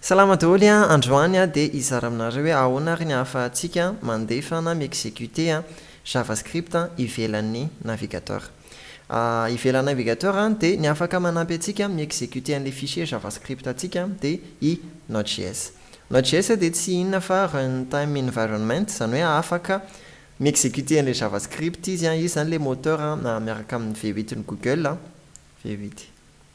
Salama daholo a, androany aho dia hizara aminareo hoe ahoana ary ny ahafahantsika mandefa na mi-executer JavaScript ivelan'ny navigateur. Ivelan'ny navigateur dia ny afaka manampy antsika mi-executer an'ilay fichier JavaScript antsika dia i Node.js. Node.js dia tsy inona fa runtime environment, izany hoe afaka mi-executer an'ilay JavaScript izy, izy izany ilay moteur miaraka amin'ny V8 n'i Google, V8.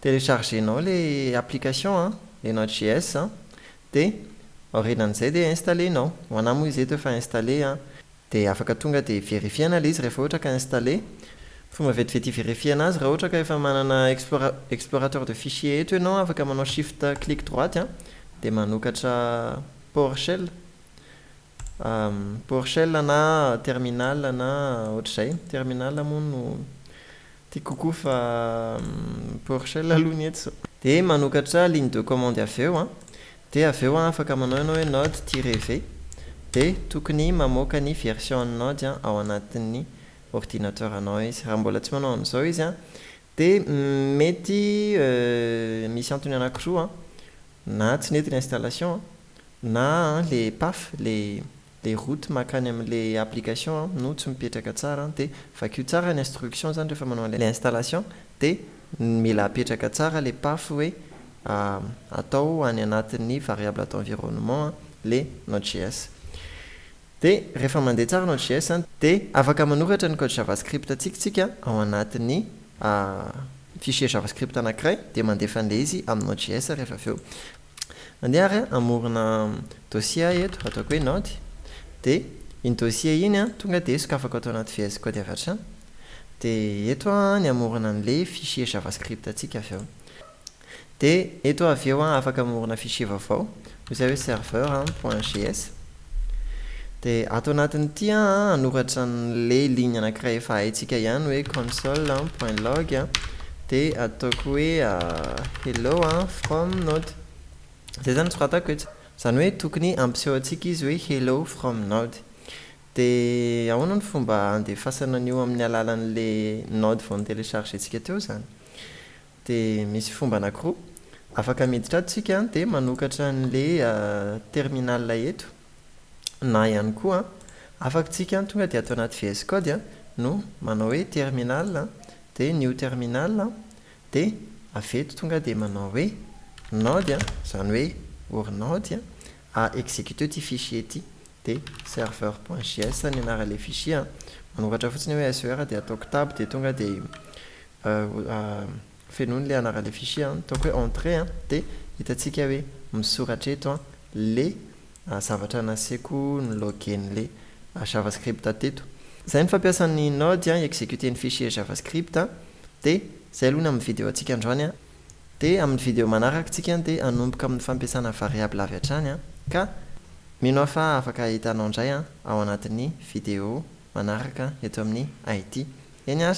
Telechargenao le application an, le node js an, dia aorinan'izay dia installer-nao, ho anah moa izy eto efa installer an, dia afaka tonga dia verifier-na le izy rehefa ohatra ka installer, fomba vetivety hi-verifier-na azy raha ohatra ka efa manana explora explorateur de fichier eto ianao an, afaka manao shift click droite an, dia manokatra powershell, Porchel na terminal na ohatr'izay, terminal moa no tiako kokoa fa porchel aloha ny eto. Dia manokatra ligne de commande avy eo an, dia avy eo an afaka manao ianao hoe node tiret v, dia tokony mamoaka ny version an'ny node ao anatin'ny ordinateur-nao izy. Raha mbola tsy manao an'izao izy an, Dia mety misy antony anankiroa an, na tsy nety ilay installation an, na an le paf, le le route makany amin'le application an no tsy mipetraka tsara an, dia vakio tsara ny instruction zany rehefa manao an'ilay installation dia mila apetraka tsara le paf hoe atao any anatin'ny variable d'environnement an le node js. Dia rehefa mandeha tsara Node JS an, dia afaka manoratra ny code JavaScript antsika tsika ao anatin'ny fichier JavaScript anankiray dia mandefa an'ilay izy amin'ny Node JS rehefa avy eo. Mandeha ary an, hamorona dossier aho eto, ataoko hoe Node, dia iny dossier iny an, tonga dia sokafako ato anaty VS Code avy hatrany, dia eto aho an ny hamorona an'ilay fichier JavaScript antsika avy eo. Dia eto avy eo an, afaka mamorona fichier vaovao, hoy izay hoe serveur an, point js. Dia ato anatin'ity an, hanoratra an'ilay ligne anankiray efa haintsika ihany hoe console an, point log an, dia ataoko hoe hello an, from node. Izay izany no soratako eto. Izany hoe tokony hampiseho antsika izy hoe hello from node. Dia ahoana no fomba handefasana an'io amin'ny alalan'ilay node vao notelechargentsika teo izany? Dia misy fomba anankiroa afaka miditra ato tsika dia manokatra anle terminal eto na ihany koa afak tsika tonga dia ato anaty VS Code no manao hoe terminal dia new terminal dia avy eto tonga dia manao hoe node izany hoe orinaoty a executer ity fichier ity dia server.js ny anaranle fichier manokatra fotsiny hoe SER dia ataoko tab dia tonga dia Fenoina le anarany le fichier an, ataoko hoe entrée an, dia hitantsika hoe misoratra eto an le zavatra nasiako ny login le javascript teto. Izay ny fampiasan'ny Node an hi-executer ny fichier javascript an, dia izay aloha ny amin'ny video antsika androany an, dia amin'ny video manaraka tsika dia hanomboka amin'ny fampiasana variable avy hatrany an, ka mino aho fa afaka hitanao indray an ao anatin'ny video manaraka eto amin'ny it. Eny ary.